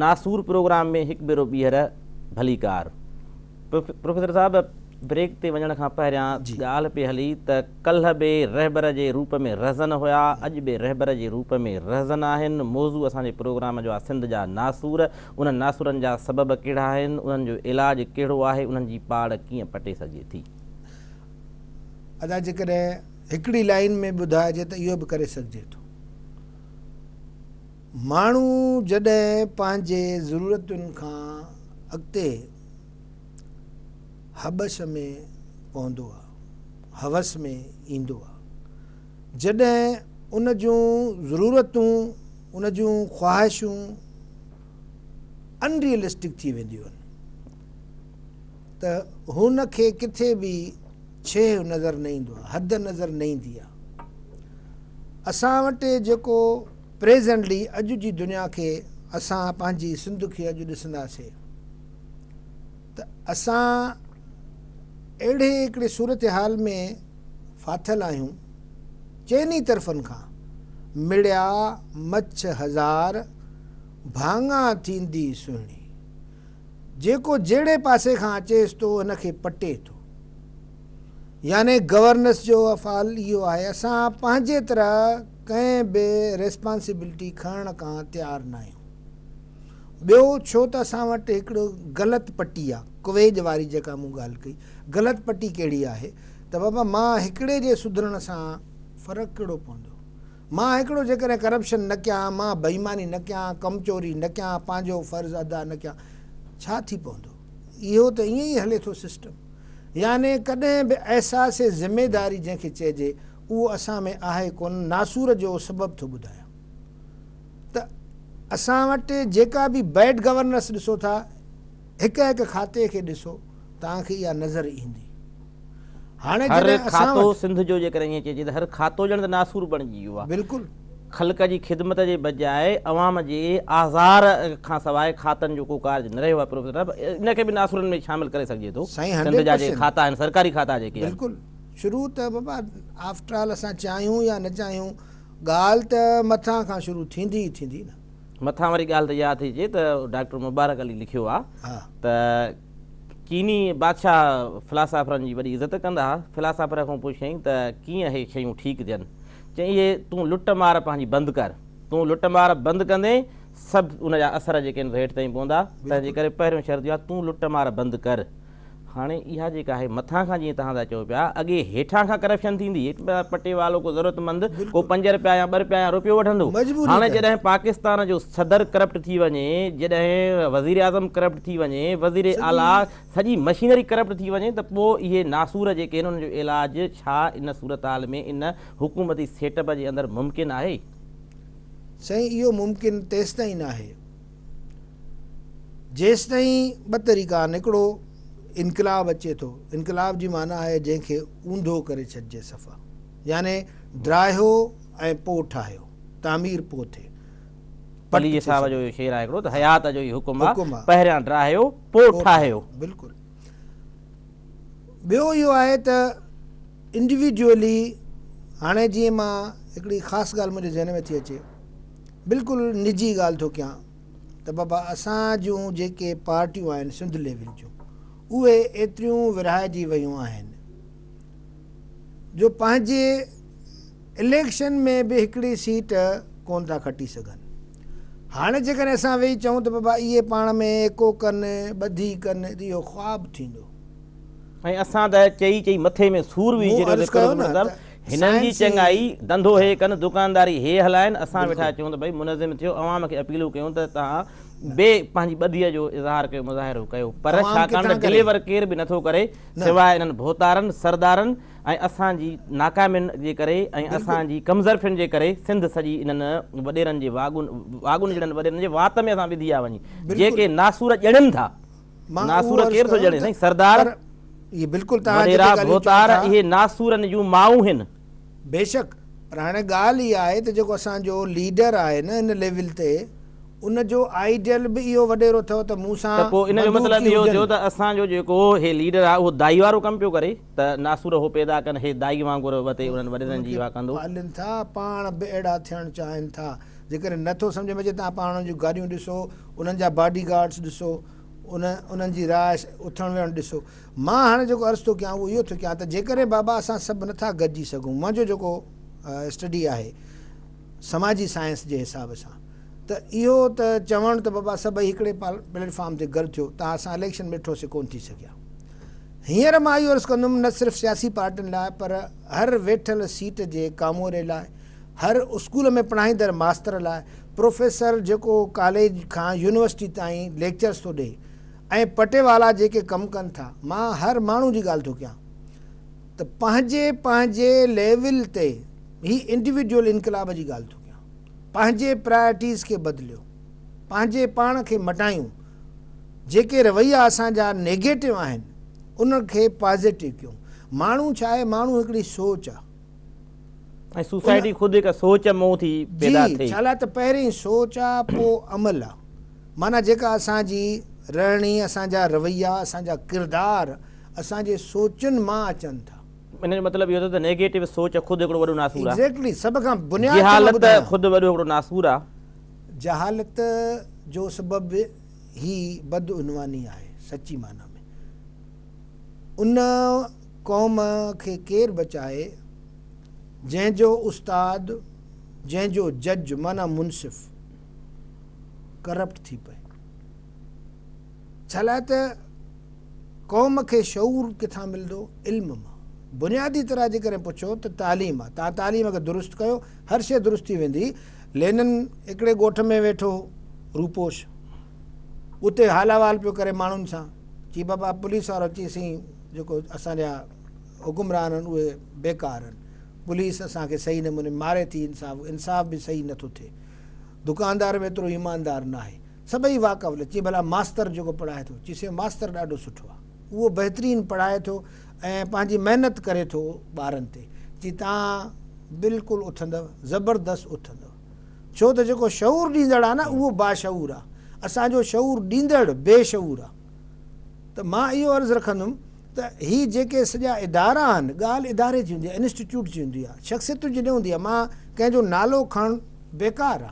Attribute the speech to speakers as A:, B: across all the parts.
A: ناسور پروگرام ۾ هڪ ڀيرو ٻيهر ڀليڪار پروفيسر صاحب بريڪ تي وڃڻ کان پهريان جي ڳالهه پي هلي ته ڪلهه به رهبر جي روپ ۾ رهزن هيا اڄ به رهبر جي روپ ۾ رهزن آهن موضوع اسان جي پروگرام جو آهي سنڌ جا ناسور انهن ناسرن جا سبب ڪهڙا آهن، انهن جو علاج ڪهڙو آهي، انهن جي پاڙ ڪيئن پٽي سگهجي ٿي؟
B: ادا جيڪڏهن هڪڙي لائين ۾ ٻڌائجي ته اهو به ڪري سگهجي ٿو. ماڻهو جڏهن پنهنجي ضرورتن کان اڳتي هٻش ۾ پوندو آ هوس ۾ ايندو آ. جڏهن ان جون ضرورتون، ان جون خواهشون ان ريئلسٽڪ ٿي وينديون آهن ته هن کي ڪٿي به ڇيهه نظر نه ايندو آهي، حد نظر نه ايندي آهي. اسان وٽ جيڪو پريزنٽلي اڄ جي دنيا کي اسان پنهنجي سنڌ کي اڄ ڏسنداسين. ته اسان اهڙي هڪڙي صورتحال ۾ ڦاٿل آهيون، چئن ئي طرفن کان مڙيا مڇ هزار، ڀاڱا ٿيندي سهڻي. جيڪو جهڙي پاسي کان اچيس ٿو ان کي پٽي ٿو. يعني گورنس جو افعال اهو آهي اسان پنهنجي طرح ڪنهن به ريسپانسبلٽي کڻڻ کان تيار ناهيون. ٻيو ڇو ته اسان وٽ هڪڙو غلط پٽي آ ڪويڄ واري جيڪا مون ڳالهه ڪئي غلط پٽي ڪهڙي آهي ته بابا مان هڪڙي جي سڌرڻ سان فرق ڪهڙو پوندو مان هڪڙو جيڪڏهن ڪرپشن نه ڪيان مان بيماني نه ڪيان ڪم چوري نه ڪيان پنهنجو فرض ادا نه ڪيان ڇا ٿي پوندو اهو ته ائين ئي هلي ٿو سسٽم يعني ڪڏهن به احساس ذميداري جنهن کي چئجي اهو اسان ۾ آهي ڪونه ناسور جو سبب ٿو ٻڌايان ته اسان وٽ جيڪا به بيڊ گورننس ڏسو ٿا هڪ هڪ کاتي کي ڏسو توهان کي اها نظر ايندي هاڻي هر جڏهن اسان کاتو
A: وٽ. سنڌ جو جيڪڏهن ائين چئجي ته هر کاتو ڄڻ ته ناسور بڻجي ويو آهي. بلڪل. خلق
B: جي خدمت
A: جي بجاء عوام جي آزار کان سواء کاتن جو ڪو ڪارج نه رهيو آهي پروفيسر صاحب ان کي به ناسورن ۾ شامل ڪري سگهجي ٿو سائين سنڌ هنڊريڊ جا جي پرسينٽ. کاتا آهن سرڪاري کاتا جيڪي آهن. بلڪل شروع ته
B: بابا آفٽرآل اسان چاهيون يا نه چاهيون. ڳالهه ته مٿان کان شروع ٿيندي ئي ٿيندي نه. مٿان وري ڳالهه ته اها
A: ٿي اچي ته ڊاڪٽر مبارڪ علي لکيو آ ته چيني بادشاهه فلاسافرن جي وڏي عزت ڪندا ها. فلاسافر کون پڇيائين ته ڪيئن اهي شيون ٺيڪ ٿين؟ چيائين اهي تون لٽ مار پنهنجي بند ڪر. تون لٽ مار بند ڪندين سڀ ان جا اثر جيڪي آهن سو هيٺ تائين پوندا. تنهنجي ڪري پهريون شرط اها تون لٽ مار بند ڪر. هاڻي اها جيڪا آهي مٿان کان جيئن توهان ٿا چئو پيا اڳي هيٺان کان ڪرپشن ٿيندي پٽي والو ڪو ضرورت مند ڪو پنج رپيا يا ٻه رپيا يا روپيو وٺندو هاڻي جڏهن پاڪستان جو صدر ڪرپٽ ٿي وڃي جڏهن وزير اعظم ڪرپٽ ٿي وڃي وزير اعليٰ سڄي مشينري ڪرپٽ ٿي وڃي ته پوء اهي ناسور جيڪي آهن انهن جو علاج ڇا ان صورتحال ۾ ان حڪومتي سيٽ اپ جي اندر ممڪن آهي؟
B: سائين اهو ممڪن تيستائين ناهي. جيستائين ٻه طريقا آهن هڪڙو انقلاب اچي ٿو انقلاب جي معنيٰ آهي جنهن کي اونڌو ڪري ڇڏجي صفا يعني ڊاهيو ۽ پوء ٺاهيو تعمير پوء ٿئي پٽ علي
A: صاحب جو شعر آهي هڪڙو ته حيات جو هي حڪم آهي پهريان ڊاهيو پوء ٺاهيو بلڪل
B: ٻيو اهو آهي ته انڊيوڊيولي هاڻي جيئن مان هڪڙي خاص ڳالهه منهنجي ذهن ۾ ٿي اچي بلڪل نجي ڳالهه ٿو ڪيان ته بابا اسان جون جيڪي پارٽيون آهن سنڌ ليول جون اهي ايتريون ورهائجي ويون آهن جو پنهنجي اليڪشن ۾ به هڪڙي سيٽ ڪون ٿا کٽي سگهن هاڻي جيڪڏهن اسان ويهي چئون ته بابا اهي پاڻ ۾ ايڪو ڪن ٻڌي ڪن ته اهو خواب ٿيندو ۽
A: اسان ته چئي چئي مٿي ۾ سور ويهجي رهيو ٿي قرب نظر هنن جي چڱائي ڌنڌو هي ڪن، دڪانداري هي هلائن، اسان ويٺا چون ته ڀئي منظم ٿيو، عوام کي اپيلون ڪيون ته توهان به پنهنجي ٻڌيء جو اظهار ڪيو، مظاهرو ڪيو، پر ڇاڪاڻ ته ڊليور ڪير به نٿو ڪري، سواء انهن ڀوتارن، سردارن ۽ اسان جي ناڪامين جي ڪري ۽ اسان جي ڪمظرفين جي ڪري، سنڌ سڄي انهن وڏيرن جي واڳون جهڙن وڏيرن جي وات ۾ اسان ٻڌي آ وڃي، جيڪي ناسور ڄڻن ٿا. مان اهو ناسور عرض ڪير ٿو ڪيم ڄڻي ته سائين سردار پر اهي بلڪل توهان وڏيرا جيڪي ڳالهيون چئو ڀوتار ٿا. اهي ناسورن جون مائون هن. بيشڪ
B: پر هاڻي ڳالهه اها آهي ته جيڪو اسان جو ليڊر آهي نه ان ليول تي ان جو آئيڊيل به اهو وڏيرو اٿئو ته مون سان ته پوء ان جو مطلب بندوقي اهو
A: ٿيو هجن. ته اسان جو جيڪو هي ليڊر آهي اهو دائي وارو ڪم پيو ڪري. ته ناسور هو پيدا ڪن هي دائي وانگر وتي انهن
B: وڏيرن
A: جي
B: اها
A: ڪندو.
B: پالين
A: ٿا پاڻ به اهڙا ٿيڻ
B: چاهين
A: ٿا جيڪڏهن
B: نه ٿو سمجهه ۾ اچي تان پاڻ انهن جون گاڏيون ڏسو انهن جا باڊي گارڊس ڏسو ان انهن جي رهائش اٿڻ ويهڻ ڏسو مان هاڻي جيڪو عرض ٿو ڪيان اهو اهو ٿو ڪيان ته جيڪڏهن بابا اسان سڀ نه ٿا گڏجي سگهون منهنجو جيڪو اسٽڊي آهي سماجي سائنس جي حساب سان ته اهو ته چوڻ ته بابا سڀئي هڪڙي پليٽ فارم تي گڏ ٿيو تان اسان اليڪشن ۾ ٺوسي ڪون ٿي سگهيا. هينئر مان اهو عرض ڪندم نه صرف سياسي پارٽين لاء پر هر ويٺل سيٽ جي ڪاموري لاء، هر اسڪول ۾ پڙهائيندڙ ماستر لاء، پروفيسر جيڪو ڪاليج کان يونيورسٽي تائين ليڪچرز ٿو ڏئي ۽ پٽيوالا جيڪي ڪم ڪن ٿا، مان هر ماڻهو جي ڳالهه ٿو ڪيان ته پنهنجي پنهنجي ليول تي هي انڊيوڊيول انقلاب جي ڳالهه ٿو ڪيان پنهنجي پرايرٽيز کي بدليو پنهنجي پاڻ کي مٽايون جيڪي رويا اسان جا نيگيٽو آهن انهن کي پازيٽو ڪيون ماڻهو ڇا آهي ماڻهو هڪڙي سوچ آ
A: ۽ سوسائٽي خود هڪ سوچ مون ٿي پيدا ٿئي. جي ڇالاء ته پهرين
B: سوچ آ پو عمل آ معنيٰ جيڪا اسان جي رهڻي اسان جا رويا اسان جا ڪردار اسان جي سوچن مان اچن ٿا. ان جو مطلب اهو
A: ٿيو ته نيگيٽو سوچ خود هڪڙو وڏو ناسور آ. ايگزيڪٽلي سڀ کان بنياد
B: ته مان ٻڌايان. جهالت خود وڏو
A: هڪڙو ناسور آ جهالت
B: جو سبب هي بدعنواني آهي سچي معنيٰ ۾ ان قوم کي ڪير بچائي جنهن جو استاد جنهن جو جج معنيٰ منصف ڪرپٽ ٿي پئي ڇالاء ته قوم کي شعور ڪٿان ملندو علم مان بنيادي طرح جيڪڏهن پڇو ته تعليم آهي تان تعليم کي درست ڪيو هر شيء درست ٿي ويندي لينن هڪڙي ڳوٺ ۾ ويٺو هو، روپوش اتي حال احوال پيو ڪري ماڻهن سان، چي بابا پوليس وارو چي سين جيڪو اسان جا حڪمران آهن اهي بيڪار آهن، پوليس اسان کي صحيح نموني ماري ٿي انصاف انصاف به صحيح نه ٿو ٿئي، دڪاندار به ايترو ايماندار ناهي، سڀئي واڪ اف لينن چي ڀلا ماستر جيڪو پڙهائي ٿو، چي سين ماستر ڏاڍو سٺو آهي. اهو بهترين پڙهائي ٿو ۽ پنهنجي محنت ڪري ٿو ٻارن تي جي تان بلڪل اٿندؤ زبردست اٿندؤ ڇو ته جيڪو شعور ڏيندڙ آ نه اهو باشعور آ اسان جو شعور ڏيندڙ بي شعور آ ته مان اهو عرض رکندم ته هي جيڪي سڄا ادارا آهن ڳالهه اداري جي هوندي آ انسٽيٽيوٽ جي هوندي آ شخصيتن جي نه هوندي آ مان ڪنهن جو نالو کڻڻ بيڪار آ.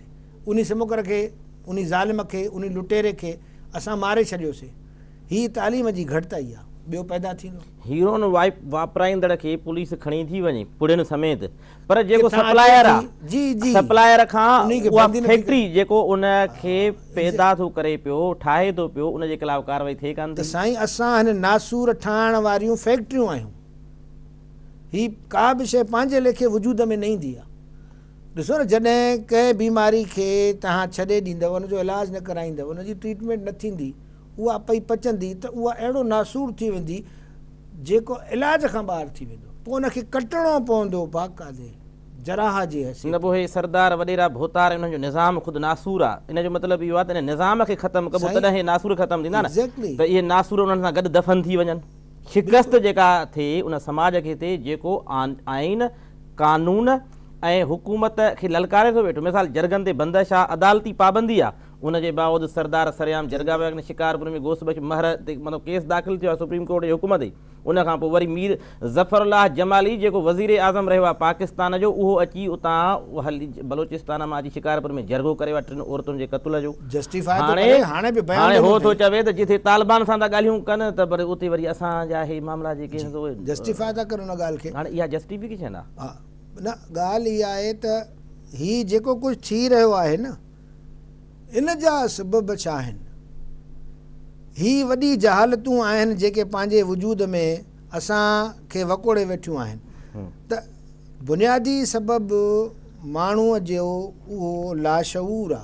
B: انهي سمڪر کي، انهي ظالم کي، انهي لٽيري کي اسان ماري ڇڏيوسي. هي تعليم جي گهٽتائي آ. ٻيو پيدا ٿيندو. هيروئن
A: واپرائيندڙ کي پوليس کڻي ٿي وڃي، پڙهين سميت. پر جيڪو سپلائر آ، سپلائر
B: کان
A: اها فيڪٽري جيڪو ان کي پيدا ٿو ڪري پيو، ٺاهي ٿو پيو، ان جي خلاف ڪارروائي ٿئي ڪانه ٿي. ته سائين اسان هن
B: ناسور ٺاهڻ واريون فيڪٽريون آهيون. هي ڪا به شيء پنهنجي ليکي وجود ۾ نه ايندي آ. ڏسو نه جڏهن ڪنهن بيماري کي توهان ڇڏي ڏيندؤ ان جو علاج نه ڪرائيندؤ ان جي ٽريٽمينٽ نه ٿيندي اها اپئي پچندي ته اها اهڙو ناسور ٿي ويندي جيڪو علاج کان ٻاهر ٿي ويندو. پوء ان کي ڪٽڻو پوندو باقاعدي جراح جي حيثيت. نه پوء هي سردار
A: وڏيرا ڀوتار انهن جو نظام خود ناسور آ ان جو مطلب اهو آ ته ان نظام کي ختم ڪبو تڏهن هي ناسور ختم ٿيندا نه ته اهي ناسور انهن سان گڏ دفن ٿي وڃن شڪست جيڪا ٿئي ان سماج کي ٿئي جيڪو آئين قانون ۽ حڪومت کي للڪاري ٿو ويٺو مثال جرڳن تي بندش آ عدالتي پابندي آ ان جي باوجود سردار سرعام جرڳا پيا ڪن شڪارپور ۾ گوس بخش مهر تي مطلب ڪيس داخل ٿيو آ سپريم ڪورٽ جي حڪم تي ان کان پوء وري مير ظفر الله جمالي جيڪو وزير اعظم رهيو آ پاڪستان جو اهو اچي اتان بلوچستان مان اچي شڪارپور ۾ جرڳو ڪريو آ ٽن عورتن جي قتل جو هاڻي هاڻي هو ٿو چوي ته جتي طالبان سان ٿا ڳالهيون ڪن ته پر اتي وري اسان جا هي معاملا جي ڪيس اهي جسٽيفاء ٿا ڪن
B: ان ڳالهه کي هاڻي اها جسٽيفڪيشن
A: آ ها نه ڳالهه
B: اها آهي ته هي جيڪو ڪجهه ٿي رهيو آهي نه ان جا سبب ڇا آهن هي وڏي جهالتون آهن جيڪي پنهنجي وجود ۾ اسان کي وڪوڙي ويٺيون آهن ته بنيادي سبب ماڻهو جو اهو لاشعور آ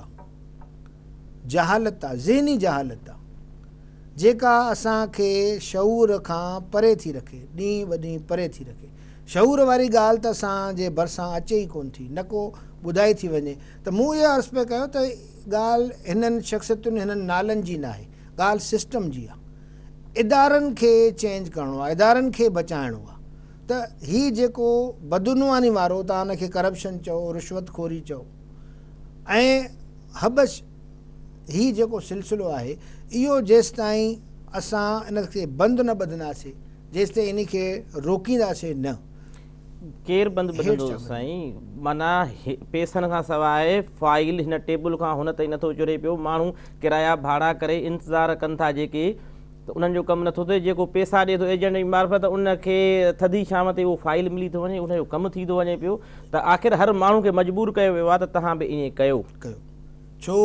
B: جهالت آ، ذهني جهالت آ، جيڪا اسان کي شعور کان پري ٿي رکي، ڏينهن ٻڏينهن پري ٿي رکي. شعور واري ڳالهه ته اسان جي ڀرسان اچي ئي ڪونه ٿي، نه ڪو ٻڌائي ٿي وڃي ته مون اهو عرض پئي ڪيو ته ڳالهه هنن شخصيتن، هنن نالن جي ناهي، ڳالهه سسٽم جي آ. ادارن کي چينج ڪرڻو آ، ادارن کي بچائڻو آ ته هي جيڪو بدعنواني وارو توهان ان کي ڪرپشن چئو، رشوت خوري چئو، ۽ حبش هي جيڪو سلسلو آهي اهو جيستائين اسان ان کي بند نه ٻڌنداسي جيستائين ان کي روڪينداسي نه. ڪير
A: بند ٻڌندو سائين معنيٰ پيسن کان سواء فائل هن ٽيبل کان هن تائين نٿو چڙهي پيو ماڻهو ڪرايا ڀاڙا ڪري انتظار ڪن ٿا جيڪي ته انهن جو ڪم نٿو ٿئي، جيڪو پيسا ڏي ٿو ايجنٽ جي معرفت ان کي ٿڌي شام تي اهو فائيل ملي ٿو وڃي، ان جو ڪم ٿي ٿو وڃي پيو ته آخر هر ماڻهو کي مجبور ڪيو ويو آهي ته توهان به ائين ڪيو. ڪيو ڇو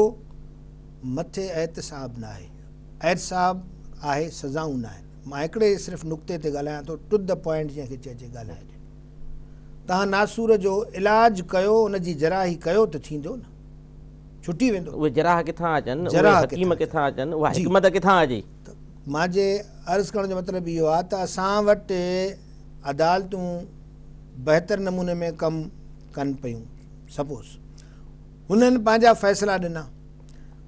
B: مٿي احتساب ناهي، احتساب آهي سزائون ناهن، مان هڪڙي صرف نقطي تي ڳالهايان ٿو ٽو دي پوائنٽ جنهن کي چئجي ڳالهائجي، توهان ناسور جو علاج ڪيو ان جي جراحي ڪيو ته ٿيندو نه، ڇٽي ويندو. اهي جراح ڪٿان اچن،
A: اهي حڪيم ڪٿان
B: اچن، اها
A: حڪمت ڪٿان اچي؟ مان جي
B: عرض ڪرڻ جو مطلب اهو آهي ته اسان وٽ عدالتون بهتر نموني ۾ ڪم ڪن پيون سپوز هنن پنهنجا فيصلا ڏنا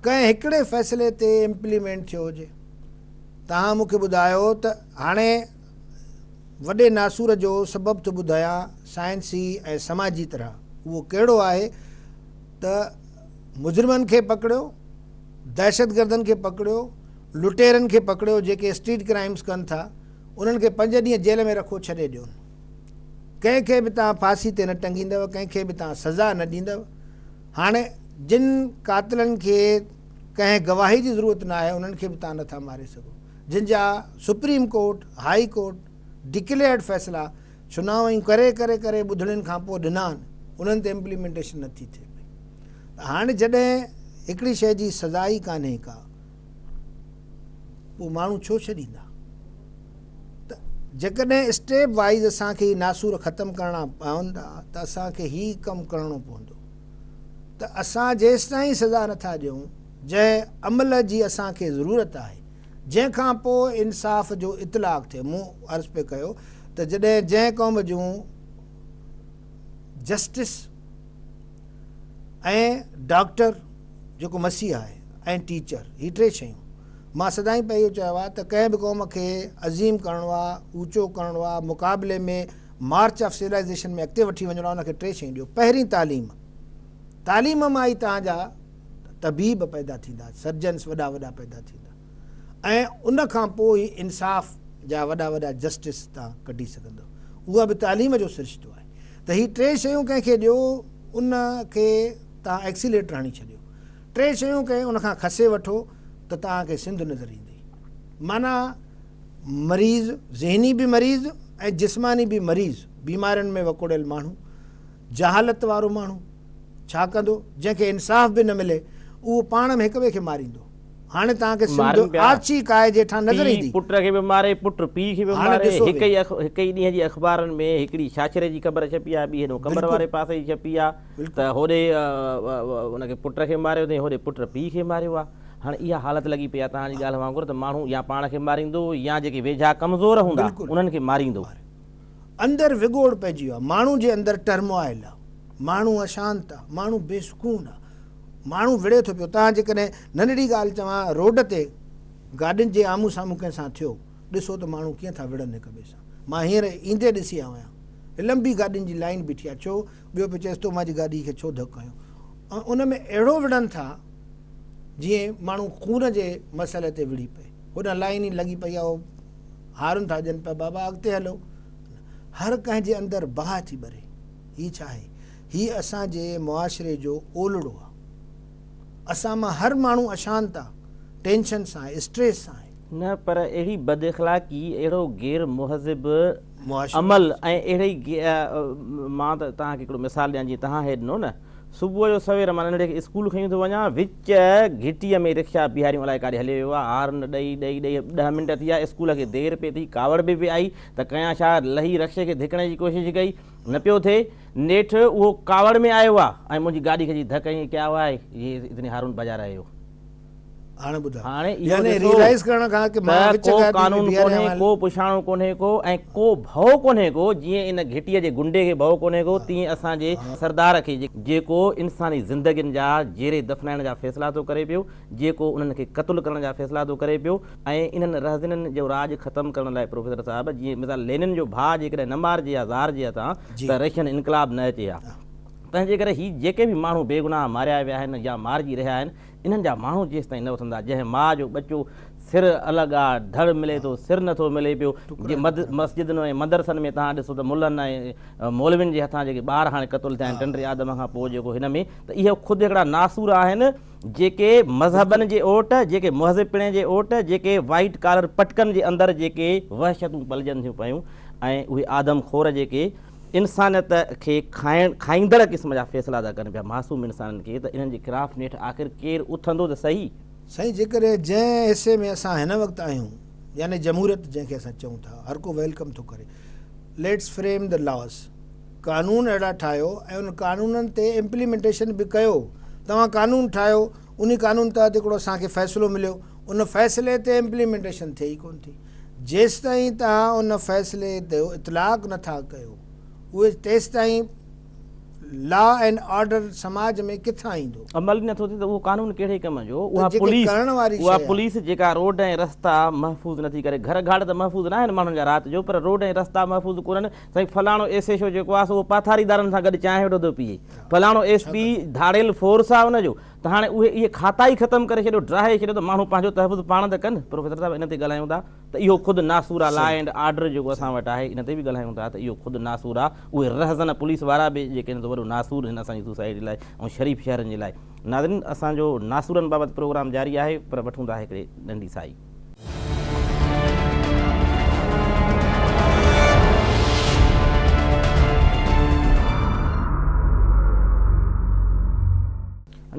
B: ڪنهن هڪڙي فيصلي تي امپليمينٽ ٿيو هجي تهان مون کي ٻڌايو ته هاڻي وڏي ناسور جو سبب ٿو ٻڌايان سائنسي ۽ سماجي طرح اهو ڪهڙو آهي ته مجرمن کي پڪڙيو، دهشتگردن کي پڪڙيو، لٽيرن کي پڪڙيو جيڪي اسٽريٽ ڪرائمز ڪن ٿا انهن کي پنج ڏينهن جيل ۾ رکو ڇڏي ڏيون. ڪنهن کي به توهان ڦاسي تي نه ٽنگيندؤ ڪنهن کي به توهان سزا نه ڏيندؤ هاڻي جن قاتلن کي ڪنهن گواهي جي ضرورت نه آهي انهن کي به توهان نه ٿا ماري سگهو جن جا supreme court high court declared فيصلا چونائون ڪري ڪري ڪري ٻڌڻين کان پوء ڏنا آھن انھن تي امپليمينٽيشن نه ٿي ٿئي پئي ته ھاڻ جڏھن ھڪڙي شيء جي سزا ئي ڪانھي ڪا پوء ماڻھو ڇو ڇڏيندا ته جيڪڏھن اسٽيپ وائيز اسان کي ناسور ختم ڪرڻا پوندا ته اسان کي ھي ڪم ڪرڻو پوندو ته اسان جيستائين سزا نٿا ڏيون جنھن عمل جي اسان کي ضرورت آھي جنهن کان پوء انصاف جو اطلاق ٿئي. مون عرض پئي ڪيو ته جڏهن جنهن قوم جون جسٽس ۽ ڊاڪٽر جيڪو مسيح آهي ۽ ٽيچر هي ٽي شيون مان سدائين پئي اهو چيو آهي ته ڪنهن به قوم کي عظيم ڪرڻو آهي اوچو ڪرڻو آهي مقابلي ۾ مارچ آف سولائيزيشن ۾ اڳتي وٺي وڃڻو آهي ان کي ٽي شيون ڏيو پهرين تعليم تعليم مان ئي توهان جا طبيب پيدا ٿيندا، سرجنس وڏا وڏا پيدا ٿيندا ۽ ان کان پوء ئي انصاف جا وڏا وڏا جسٽس تان ڪڍي سگهندو. اها به تعليم جو سرشتو آهي ته هي ٽي شيون ڪنهن کي ڏيو ان کي تان ايڪسيليٽر هڻي ڇڏيو. ٽي شيون ڪنهن ان کان کسي وٺو ته تان کي سنڌ نظر ايندي. معنيٰ مريض، ذهني به مريض ۽ جسماني به مريض، بيمارين ۾ وڪوڙيل ماڻهو، جهالت وارو ماڻهو ڇا ڪندو؟ جنهن کي انصاف به نه ملي، اهو پاڻ ۾ هڪ ٻئي کي ماريندو. هاڻي توهان کي سنڌ مارن پيا. آڇي ڪاهي جيٺان پيء نظر ايندي. پٽ کي به ماري، پٽ
A: پيء کي به هاڻي ماري. ڏسو هڪ به. ئي اخ هڪ ئي ڏينهن جي اخبارن ۾ هڪڙي ڇاڇري جي خبر ڇپي آهي، ٻي هيڏهون قمر بلڪل. واري پاسي جي ڇپي آهي بلڪل. ته هوڏي ان کي پٽ کي ماريو اٿئين، هوڏي پٽ پيء کي ماريو آهي. هاڻي اها حالت لڳي پئي آهي توهان جي ڳالهه وانگر ته ماڻهو يا پاڻ کي ماريندو يا جيڪي ويجها ڪمزور هوندا بلڪل. انهن کي ماريندو. ماريندو. اندر
B: وڳوڙ پئجي ويو آهي. ماڻهو جي اندر ٽرموائل آهي. ماڻهو اشانت آهي. ماڻهو بي سڪون آهي. ماڻهو وڙهي ٿو پيو. توهان جيڪڏهن ننڍڙي ڳالهه چوان روڊ تي گاڏين جي آمهون سامهون ڪنهن سان ٿيو، ڏسو ته ماڻهو ڪيئن ٿا وڙهن هڪ ٻئي سان. مان هينئر ايندي ڏسي آيو آهيان. لنبي گاڏين جي لائين بيٺي آهي. ڇو؟ ٻيو پيو چئيس تو مانجي گاڏي کي ڇو ڌڪ هنيو؟ ان ۾ اهڙو وڙهن ٿا جيئن ماڻهو خون جي مسئلي تي وڙهي پئي. هوڏانهن لائين ئي لڳي پئي آهي، هارون ٿا ڏين پيا، بابا اڳتي هلو. هر ڪنهن جي اندر باهه ٿي ٻري، هي ڇا آهي؟ هي اسان جي معاشري جو اولڙو آهي. اسان مان هر ماڻهو اشانت آهي، ٽينشن سان آهي، اسٽريس سان آهي. نه پر اهڙي
A: بد اخلاقي، اهڙو غير مهذب عمل ۽ اهڙي مان ته توهان کي هڪڙو مثال ڏيان جيئن توهان هي ڏنو نه، صبح جو سوير مان ننڍڙي کي اسڪول کنيون ٿو وڃان، وچ گهٽيء ۾ رڪشا بيهاريون الائي ڪاڏي هليو ويو آهي، هارن ڏئي ڏئي ڏئي ڏهه منٽ ٿيا، اسڪول کي دير پئي ٿي، ڪاوڙ به پئي آئي ته ڪيان ڇا، لهي رڪشي کي ڌڪڻ جي ڪوشش ڪئي، نه پيو ٿئي، نيٺ اهو ڪاوڙ ۾ آيو آهي ۽ منهنجي گاڏي کي جي ڌڪ هنئي ڪيا هئائي، جي اتني هارون بجا رهي هو.
B: هاڻي ٻڌاء. هاڻي
A: اهو
B: ڏسو ته ڪو قانون
A: ڪونهي،
B: ڪو
A: پڇاڻو ڪونهي
B: ڪو
A: ۽ ڪو ڀؤ ڪونهي ڪو، جيئن ان گهٽيء جي گنڊي کي ڀؤ ڪونهي ڪو، تيئن اسان جي سردار کي، جيڪو انساني زندگين جا جيري دفنائڻ جا فيصلا ٿو ڪري پيو، جيڪو انهن کي قتل ڪرڻ جا فيصلا ٿو ڪري پيو ۽ انهن رهزنين جو راڄ ختم ڪرڻ لاء پروفيسر صاحب، جيئن مثال لينن جو ڀاء جيڪڏهن نه مارجي ها زار جي هٿان ته رشين انقلاب نه اچي ها. تنهنجي ڪري هي جيڪي به ماڻهو بيگناهه ماريا ويا آهن يا مارجي رهيا آهن، انهن جا ماڻهو جيستائين نه اٿندا، جنهن ماء جو ٻچو سر الئه ڳاء ڌڙ ملي ٿو، سر نٿو ملي پيو، جي مسجدن ۽ مدرسن ۾ توهان ڏسو ته ملن ۽ مولوين جي هٿان جيڪي ٻار هاڻي قتل ٿيا آهن ٽنڊي آدم کان پوء جيڪو هن ۾ ته اهي خود هڪڙا ناسور آهن جيڪي مذهبن جي اوٽ، جيڪي مهذب پڻي جي اوٽ، جيڪي وائيٽ ڪالر پٽڪن جي اندر جيڪي وحشتون پلجن ٿيون پيون ۽ اهي آدم خور جيڪي انسانيت کي کائڻ کائيندڙ قسم جا فيصلا ٿا ڪن پيا معصوم انسانن کي ته انهن جي خلاف نيٺ آخر ڪير اٿندو ته سهي. سائين جيڪڏهن
B: جنهن حصي ۾ اسان هن وقت آهيون يعني جمهوريت جنهن کي اسان چئون ٿا هر ڪو ويلڪم ٿو ڪري ليٽس فريم دي لاز قانون اهڙا ٺاهيو ۽ ان قانونن تي امپليمينٽيشن به ڪيو توهان قانون ٺاهيو انهي قانون تحت هڪڙو اسان کي فيصلو مليو ان فيصلي تي امپليمينٽيشن ٿئي ئي ڪونه ٿي جيستائين توهان ان فيصلي تي اطلاق نٿا ڪيو اهي تيستائين لا اينڊ آرڊر سماج ۾ ڪٿان ايندو. عمل ئي نٿو ٿئي ته اهو
A: قانون ڪهڙي ڪم جو اها پوليس اها پوليس جيڪا روڊ ۽ رستا محفوظ نٿي ڪري گهر گهاڙ ته محفوظ ناهن ماڻهن جا رات جو پر روڊ ۽ رستا محفوظ ڪونهن. سائين فلاڻو ايس ايش او جيڪو آ سو اهو پاٿاريدارن سان گڏ چانهه ويٺو ٿو پيئي فلاڻو ايس پي ڌاڙيل فورس آ ان جو ته هاڻي اهي اهي کاتا ئي ختم ڪري ڇڏيو ڊاهي ڇڏيو ته ماڻهو پنهنجو تحفظ پاڻ ته ڪن پروفيسر صاحب ان تي ڳالهايون ٿا ته اهو خود ناسور آ لا اينڊ آرڊر جيڪو اسان وٽ آهي ان تي به ڳالهايون ٿا ته اهو خود ناسور آ اهي رهزن پوليس وارا به جيڪي آهن سو وڏو ناسور آهن اسان جي سوسائٽي لاء ۽ شريف شهرن جي لاء ناظرين اسان جو ناسورن بابت پروگرام جاري آهي پر وٺون ٿا هڪڙي ننڍي سائي.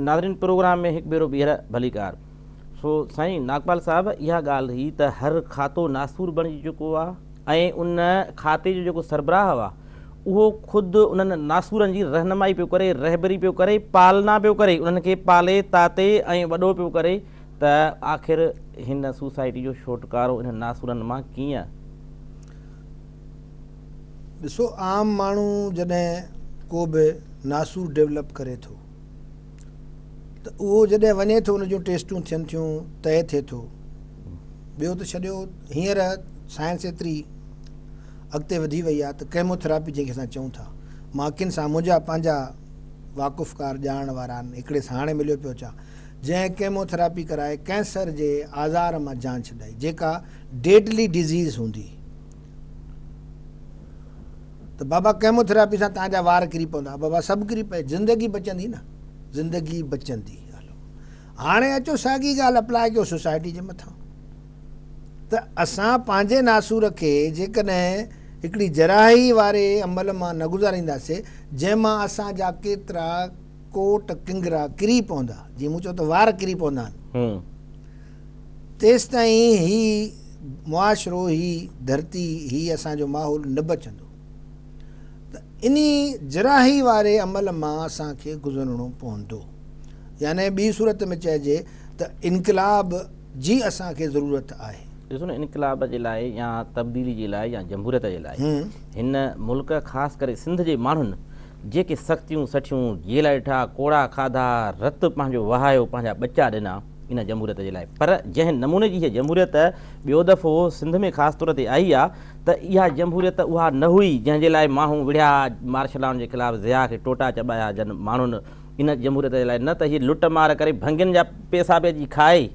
A: ناظرين پروگرام ۾ هڪ ڀيرو ٻيهر ڀليڪار سو سائين ناگپال صاحب اها ڳالهه هئي ته هر کاتو ناسور بڻجي چڪو آهي ۽ ان کاتي جو جيڪو سربراهه آهي اهو خود انهن ناسورن جي رهنمائي پيو ڪري رهبري پيو ڪري پالنا پيو ڪري انهن کي پالي تاتي ۽ وڏو پيو ڪري ته آخر هن سوسائٽي جو ڇوٽڪارو انهن ناسورن مان ڪيئن؟
B: ڏسو عام ماڻهو جڏهن ڪو به ناسور ڊيولپ ڪري ٿو ته اهو جڏهن وڃي ٿو ان جون ٽيسٽون ٿين ٿيون طئي ٿئي ٿو ٻيو ته ڇڏيو هينئر سائنس ايتري اڳتي وڌي وئي آهي ته ڪيموٿراپي جنهن کي اسان چئون ٿا مان اکين سان منهنجا پنهنجا واقفڪار ڄاڻڻ وارا آهن هڪڙي سان هاڻي مليو پيو اچان جنهن ڪيموٿراپي ڪرائي ڪينسر جي آزار مان جان ڇڏائي جيڪا ڊيڊلي ڊزيز هوندي ته بابا ڪيموٿراپي سان تان جا وار ڪري پوندا بابا سڀ ڪري پئي زندگي بچندي نه زندگي بچندي هلو هاڻي اچو ساڳي ڳالهه اپلاء ڪيو سوسائٽي جي مٿان ته اسان پنهنجي ناسور کي جيڪڏهن هڪڙي جراحي واري عمل مان نه گذارينداسي جنهن مان اسان جا ڪيترا ڪوٽ ڪنگرا ڪري پوندا، جيئن مون چيو ته وار ڪري پوندا آهن، تيستائين هي معاشرو، هي ڌرتي، هي اسان جو ماحول نه بچندو ته انهي جراحي واري عمل مان اسان کي گذرڻو پوندو. يعني ٻي صورت ۾ چئجي ته انقلاب جي اسان کي ضرورت آهي. ڏسو نه انقلاب
A: جي لاء يا تبديلي جي لاء يا جمهوريت جي لاء هن ملڪ خاص ڪري سنڌ جي ماڻهن جيڪي سختيون سٺيون، جيئلا ڏٺا، ڪوڙها کاڌا، رت پنهنجو وهايو، پنهنجا ٻچا ڏنا ان جمهوريت جي لاء. پر جنهن نموني جي هيء جمهوريت ٻيو دفعو سنڌ ۾ خاص طور تي آئي آ ته اها جمهوريت اها نه هئي جنهن جي لاء ماڻهو وڙهيا ها مارشلان جي خلاف ضياء کي ٽوٽا چٻايا جن ماڻهن ان جمهوريت جي لاء نه ته هي لٽ مار ڪري ڀنگين جا پيسا به اچي کائي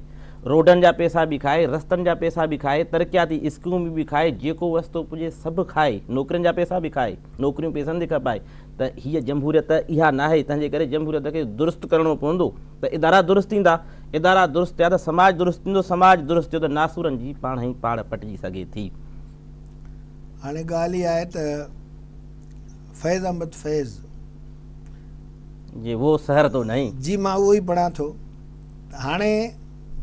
A: روڊن جا پيسا به کائي رستن جا پيسا به کائي ترقياتي اسڪيمون به کائي جيڪو وستو پڄي سڀ کائي نوڪرين جا پيسا به کائي. نوڪريون پيسن تي کپائي ته هيء جمهوريت اها ناهي، تنهن جي ڪري جمهوريت کي درست ڪرڻو پوندو ته ادارا درست ٿيندا، ادارا درست ٿيا ته سماج درست ٿيندو، سماج درست ٿيو ته ناسورن جي پاڻ ئي پاڙ پٽجي سگهي ٿي.
B: هاڻي ڳالهه اها آهي ته فيض احمد فيض.
A: جي وو سحر تو نهين. جي مان اهو ئي پڙهان
B: ٿو ته هاڻي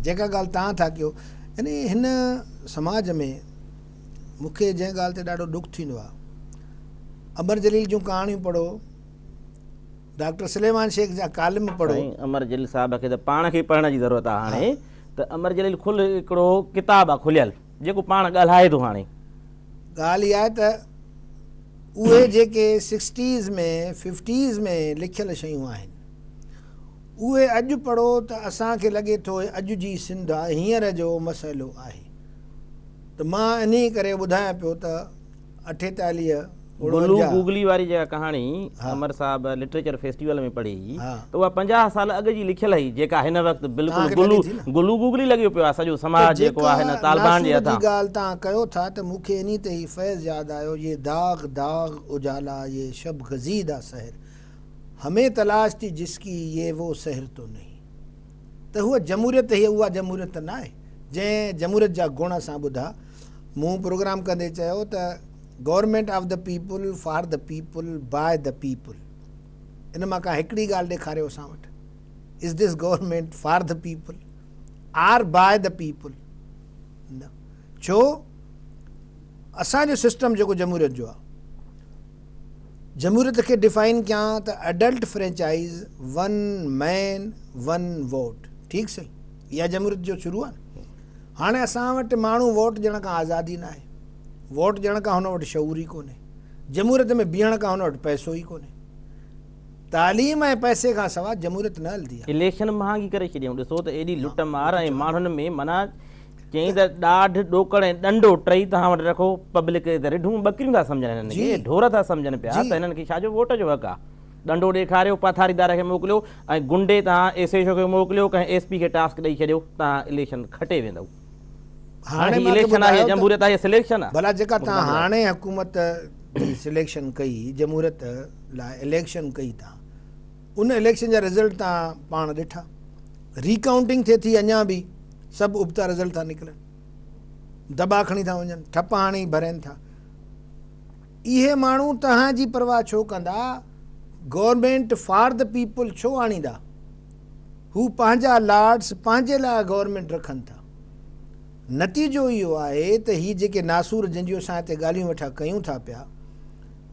B: جيڪا ڳالهه توهان ٿا ڪيو يعني هن سماج ۾. مون کي جنهن ڳالهه تي ڏاڍو ڏک ٿيندو آهي امر جليل جون ڪهاڻيون پڙهو
A: ڊاڪٽر سليمان
B: شيخ
A: جا ڪالم
B: پڙهو سائين
A: امر جليل
B: صاحب
A: کي ته پاڻ کي
B: پڙهڻ
A: جي ضرورت آهي هاڻي ته امر جليل کل هڪڙو ڪتاب آهي کليل جيڪو پاڻ ڳالهائي ٿو هاڻي ڳالهه اها
B: آهي ته اهي جيڪي سڪسٽيز ۾ ففٽيز ۾ لکيل شيون آهن اهي اڄ پڙهو ته اسان کي لڳي ٿو اهي اڄ جي سنڌ آهي هينئر جو مسئلو آهي ته مان انهيء ڪري ٻڌايان پيو ته اٺيتاليهه گلو
A: گوگلي واري جيڪا ڪهاڻي امر صاحب لٽريچر فيسٽيول ۾ پڙهي هئي ته اها پنجاهه سال اڳ جي لکيل هئي جيڪا هن وقت بلڪل گلو گلو گوگلي لڳيو پيو آهي سڄو سماج جيڪو آهي نه طالبان جي هٿان جيڪا ناسور جي ڳالهه توهان ڪيو ٿا
B: ته مون کي انهيء تي هي فيض ياد آيو يي داغ داغ اجالا يي شب گزيده سحر همين تلاش ٿي جس ڪي يي وو سحر تو نهين. ته هوء جمهوريت هيء اها جمهوريت ته ناهي جنهن جمهوريت جا گڻ اسان ٻڌا. مون پروگرام ڪندي چيو ته government of the people, for the people, by the people. ان مان ڪا هڪڙي ڳالهه ڏيکاريو اسان وٽ. Is this government for the people or by the people? نه. ڇو؟ اسان جو سسٽم جيڪو جمهوريت جو آهي. جمهوريت کي ڊفائن ڪيان ته adult franchise one man one vote ٺيڪ سهي اها جمهوريت جو شروع آهي هاڻي اسان وٽ ماڻهو ووٽ ڏيڻ کان آزاد ئي ناهي ووٽ ڏيڻ کان هن وٽ شعور ئي ڪونهي جمهوريت ۾ بيهڻ کان هن وٽ پئسو ئي ڪونهي تعليم ۽ پئسي کان سوا جمهوريت نه هلندي آهي. اليڪشن مهانگي ڪري
A: ڇڏيائون ڏسو ته ايڏي لٽ مار ۽ ماڻهن ۾ معنيٰ چيائين ته ڏاڍ، ڏوڪڙ ۽ ڏنڊو ٽئي توهان وٽ رکو، پبلڪ کي ته رڍون ٻڪريون ٿا سمجهن هنن کي، ڍور ٿا سمجهن پيا ته هنن کي ڇا جو ووٽ جو حق آ. ڏنڊو ڏيکاريو، پاٿاريدار کي موڪليو ۽ گنڊي توهان ايس ايڇ او کي موڪليو، ڪنهن ايس پي کي ٽاسڪ ڏئي ڇڏيو، توهان اليڪشن کٽي ويندؤ. هاڻي هي اليڪشن آ يا جمهوريت آ يا سليڪشن آ. ڀلا جيڪا توهان هاڻي
B: حڪومت جي سليڪشن ڪئي، جمهوريت لاء اليڪشن ڪئي توهان، ان اليڪشن جا رزلٽ توهان پاڻ ڏٺا. ري ڪائونٽنگ ٿئي ٿي اڃان به سڀ ابتا رزلٽ ٿا نڪرن. دٻا کڻي ٿا وڃن، ٺپ هاڻي ڀرين ٿا. اهي ماڻهو توهان جي پرواهه ڇو ڪندا؟ گورنمينٽ فار دي پيپل ڇو آڻيندا؟ هو پنهنجا لارڊس پنهنجي لاء گورنمينٽ رکن ٿا. نتيجو اهو آهي ته هي جيڪي ناسور جنجهو سان هتي ڳالهيون ويٺا ڪيون ٿا پيا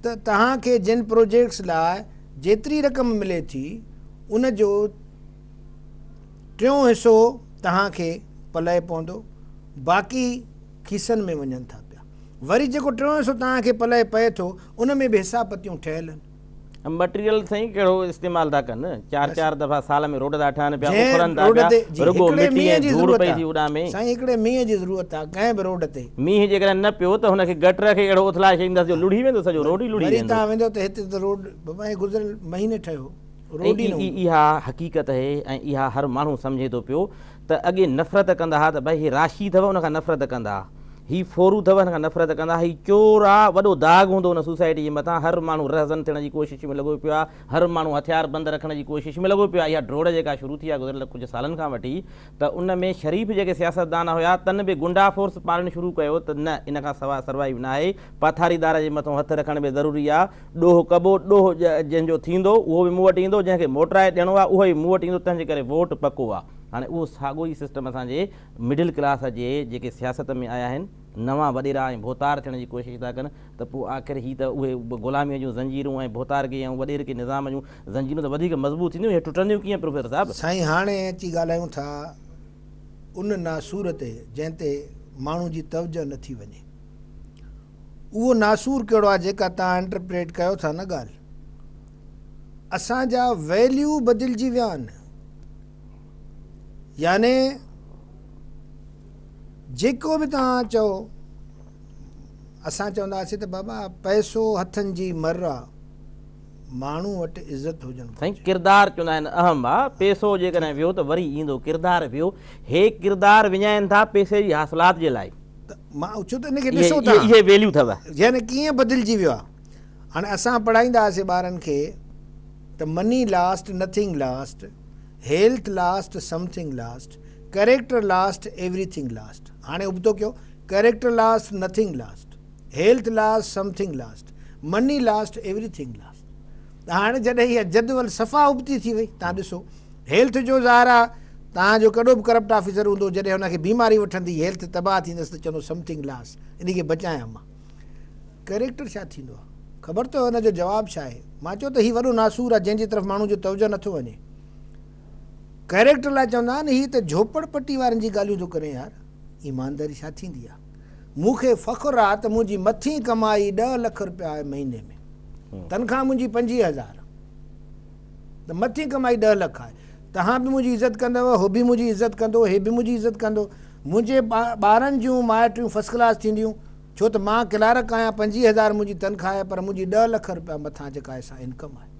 B: ته توهان کي جن پروجيڪٽس لاء جيتري رقم ملي ٿي ان جو ٽيون حصو توهان کي پلئه پوندو باقي کيسن ۾ وڃن ٿا پيا وري جيڪو ٽيون حصو توهان کي پلئه پئي ٿو ان ۾ به حساب پتيون ٺهيل آهن. مٽيريل سائين
A: ڪهڙو استعمال ٿا ڪن چار چار دفعا سال ۾ روڊ ٿا ٺهن پيا اکرن ٿا پيا رڳو مٽي ۽ ڌوڙ پئي ٿي اڏامي. سائين هڪڙي مينهن جي ضرورت
B: آ ڪنهن به روڊ تي. مينهن جيڪڏهن نه پيو
A: ته هن کي گٽر کي اهڙو اٿلائي ڇڏيندس جو لڙهي ويندو سڄو روڊ ئي لڙهي ويندو. وري توهان ويندو ته هتي ته روڊ
B: بابا ائين گذريل مهيني ٺهيو روڊ ئي نه هوندو. اها حقيقت اهي
A: ۽ اها هر ماڻهو سمجهي ٿو پيو ته اڳي نفرت ڪندا ها ته ڀائي هي راشي اٿو ان کان نفرت ڪندا هي ڦورو اٿو هن کان نفرت ڪندا هي چور آ وڏو داغ هوندو هن سوسائٽي جي مٿان هر ماڻهو رهزن ٿيڻ جي ڪوشش ۾ لڳو پيو آ هر ماڻهو هٿيار بند رکڻ جي ڪوشش ۾ لڳو پيو آ اها ڊوڙ جيڪا شروع ٿي آ گذريل ڪجهه سالن کان وٺي ته ان ۾ شريف جيڪي سياستدان هيا تن به گنڊا فورس پارڻ شروع ڪيو ته نه ان کان سواء سروائيو ناهي پاٿاريدار جي مٿو هٿ رکڻ به ضروري آ ڏوهه ڪبو ڏوهه جنهن جو ٿيندو اهو به مون وٽ ايندو جنهن کي موٽرائي ڏيڻو آ اهو ئي مون وٽ ايندو تنهنجي ڪري ووٽ پڪو آ هاڻي اهو ساڳو ئي سسٽم اسان جي مڊل ڪلاس جي جيڪي سياست ۾ آيا آهن نوان وڏيرا ۽ ڀوتار ٿيڻ جي ڪوشش ٿا ڪن ته پوء آخر هي ته اهي غلامي جون زنجيرون ۽ ڀوتارگي ۽ وڏيرڪي نظام جون زنجيرون ته وڌيڪ مضبوط ٿينديون اهي ٽٽنديون ڪيئن پروفيسر صاحب؟ سائين هاڻي اچي
B: ڳالهايون ٿا ان ناسور تي جنهن تي ماڻهو جي توجه نه ٿي وڃي اهو ناسور ڪهڙو آهي جيڪا توهان انٽرپريٽ ڪيو ٿا نه ڳالهه اسان جا ويليو بدلجي ويا آهن يعني جيڪو به توهان چئو اسان چونداسي ته بابا پئسو هٿن جي مر آ ماڻهو وٽ عزت هجڻ گهرجي. سائين ڪردار چوندا
A: آهن اهم آ پيسو جيڪڏهن ويو ته وري ايندو ڪردار ويو هي ڪردار وڃائين ٿا پيسي جي حاصلات جي لاء ته مان اچو ته ان
B: کي ڏسو ٿا اهي ويليو اٿو.
A: ذهن ڪيئن بدلجي
B: ويو آ هاڻي اسان پڙهائيندا هئاسي ٻارن کي ته money lost nothing lost health lost something lost character lost everything lost هاڻي ابتو ڪيو character lost nothing lost. Health lost something lost money lost everything lost ته هاڻي جڏهن اها جدول صفا ابتي ٿي وئي تان ڏسو هيلٿ جو ظاهر آ تان جو ڪڏو به ڪرپٽ آفيسر هوندو جڏهن هن کي بيماري وٺندي هيلٿ تباهه ٿيندس ته چوندو سم ٿنگ لاس انهي کي بچايان مان ڪريڪٽر ڇا ٿيندو آ خبر اٿو هن جو جواب ڇا آهي مان چيو ته هي وڏو ناسور آ جنهن جي طرف ماڻهو جو توجه نٿو وڃي ڪريڪٽر لاء چوندا آهن هي ته جهوپڙ پٽي وارن جي ڳالهيون ٿو ڪرين يار ايمانداري ڇا ٿيندي آ. مون کي فخر آ ته منهنجي مٿين ڪمائي ڏهه لک روپيا آهي مهيني ۾ تنخواه منهنجي پنجويهه هزار ته مٿين ڪمائي ڏهه لک آهي توهان به منهنجي عزت ڪندؤ هو به منهنجي عزت ڪندو هي به منهنجي عزت ڪندو منهنجي ٻارن جون مائٽيون فسٽ ڪلاس ٿينديون ڇو ته مان ڪلارڪ آهيان پنجويهه هزار منهنجي تنخواه آهي پر منهنجي ڏهه لک روپيا مٿان جيڪا آهي سا انڪم آهي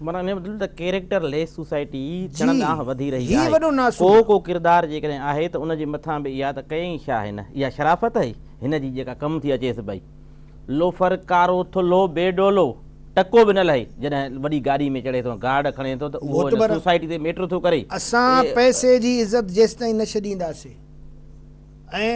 B: معنيٰ ان جو مطلب ته
A: ڪيريڪٽر ليس سوسائٽي چڙهند ڏانهن وڌي رهي آهي. ڪو ڪو
B: ڪردار جيڪڏهن
A: آهي ته ان جي مٿان به اها ته ڪيائين ڇا هن؟ اها شرافت هئي هن جي جيڪا ڪم ٿي اچيس پئي. لوفر، ڪارو، ٿلهو، بي ڊولو، ٽڪو به نه لهي، جڏهن وڏي گاڏي ۾ چڙهي ٿو، گارڊ کڻي ٿو ته اهو هن سوسائٽي تي ميٽر ٿو ڪري. اسان پئسي
B: جي عزت جيستائين نه ڇڏينداسين. ۽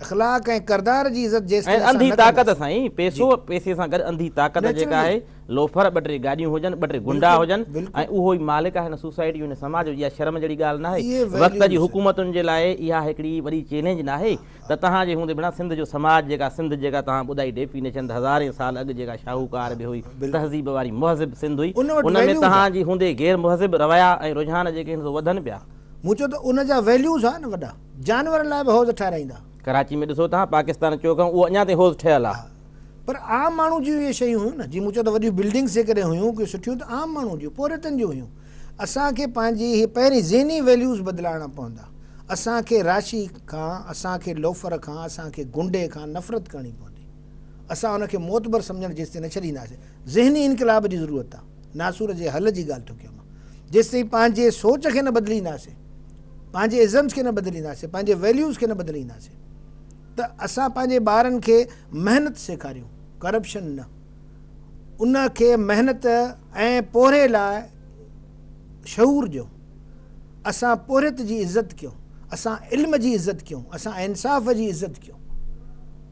B: اخلاق ۽ ڪردار جي عزت جيستائين ۽ اسان انڌي نه طاقت ڪنداسين. سائين
A: جي. پئسو پئسي سان گڏ انڌي طاقت جيڪا Naturally. آهي لوفر ٻه ٽي گاڏيون هجن ٻه ٽي گنڊا بلڪل هجن ۽ بلڪل. اهو ئي مالڪ آهي هن سوسائٽي جو هن سماج جو اها شرم جهڙي ڳالهه ناهي اهي وقت جي Values. حڪومتن جي لاء اها هڪڙي وڏي چئلينج ناهي ته توهان جي هوندي بنا سنڌ جو سماج جيڪا سنڌ جيڪا توهان ٻڌائي ڊيفينيشن ته هزارين سال اڳ جيڪا شاهوڪار به هئي بلڪل. تهذيب واري مهذب سنڌ هئي ان وٽ ان ۾ Values توهان آهن. جي هوندي غير مهذب روايا ۽ رجحان جيڪي آهن سو وڌن پيا. مون چيو ته ان جا
B: Values آهن نه وڏا. جانورن لاء به حوض ٺهرائيندا. ڪراچي ۾ ڏسو تان
A: پاڪستان اچو کان اهو اڃا تائين حوض ٺهيل آ. پر عام
B: ماڻهو جون اهي شيون هيون نه جي مون چيو ته وڏيون بلڊنگس جيڪڏهن هيون ڪي سٺيون ته عام ماڻهو جون پورهيتن جون هيون اسان کي پنهنجي هي پهرين ذهني ويليوز بدلائڻا پوندا اسان کي راشي کان اسان کي لوفر کان اسان کي گنڊي کان نفرت ڪرڻي پوندي اسان ان کي معتبر سمجهڻ جيستائين نه ڇڏينداسين ذهني انقلاب جي ضرورت آ ناسور جي حل جي ڳالهه ٿو ڪيان مان جيستائين پنهنجي سوچ کي نه بدلينداسين پنهنجي ازمز کي نه بدلينداسين پنهنجي ويليوز کي نه بدلينداسين ته اسان پنهنجي ٻارن کي محنت سيکاريون ڪرپشن نه ان کي محنت ۽ پورهيي لاء شعور ڏيون اسان پورهيت جي عزت ڪيون اسان علم جي عزت ڪيون اسان انصاف جي عزت ڪيون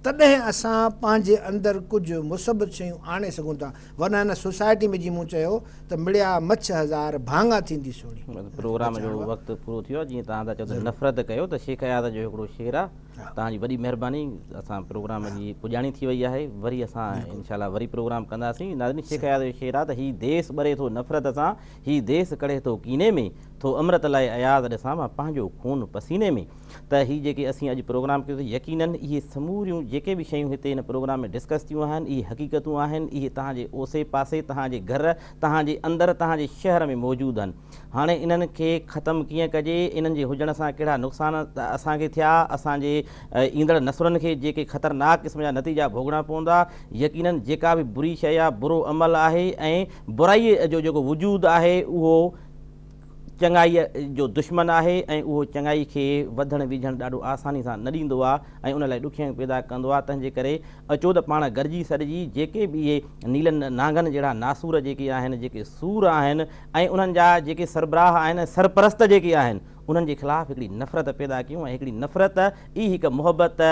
B: تڏهن اسان پنهنجي اندر ڪجهه مثبت شيون آڻي سگهون ٿا ورنه هن سوسائٽي ۾ جي مون چيو ته مڙيا مڇ هزار ڀاڱا ٿيندي سهڻي. پروگرام جو وقت
A: پورو ٿي ويو آهي جيئن توهان ٿا چئو ته نفرت ڪيو ته شيخ اياز جو هڪڙو شعر آهي توهان جي وڏي مهرباني اسان پروگرام جي پڄاڻي ٿي وئي آهي وري اسان انشاء الله وري پروگرام ڪنداسين ناظرين شيخ اياز جو شعر آهي ته هي ديس ٻري ٿو نفرت سان هي ديس ڪڙهي ٿو ڪيني ۾ ٿو امرت لاء اياز ڏسان مان پنهنجو خون پسيني ۾. ته هي جيڪي اسين اڄ پروگرام ڪيوسي يقينن اهي سموريون جيڪي به شيون هتي هن پروگرام ۾ ڊسڪس ٿيون آهن اهي حقيقتون آهن اهي تهان جي اوسي پاسي تهان جي گهر تهان جي اندر تهان جي شهر ۾ موجود آهن هاڻي انهن کي ختم ڪيئن ڪجي انهن جي هجڻ سان ڪهڙا نقصان اسان کي ٿيا اسان جي ايندڙ نسلن کي جيڪي خطرناڪ قسم جا نتيجا ڀوڳڻا پوندا يقينن جيڪا به بري شيء يا برو عمل آهي ۽ برائي جو جيڪو وجود آهي اهو چڱائيء جو دشمن آهي ۽ اهو چڱائي کي وڌڻ ويجهڻ ڏاڍو آساني سان نه ڏيندو آهي ۽ ان لاء ڏکيائيون پيدا ڪندو آهي، تنهنجي ڪري اچوت پاڻ گرجي سڏجي، جيڪي به اهي نيلن نانگن جهڙا ناسور جيڪي آهن، جيڪي سور آهن ۽ انهن جا جيڪي سربراهه آهن ۽ سرپرست جيڪي آهن، انهن جي خلاف هڪڙي نفرت پيدا ڪيون ۽ هڪڙي نفرت ئي هڪ محبت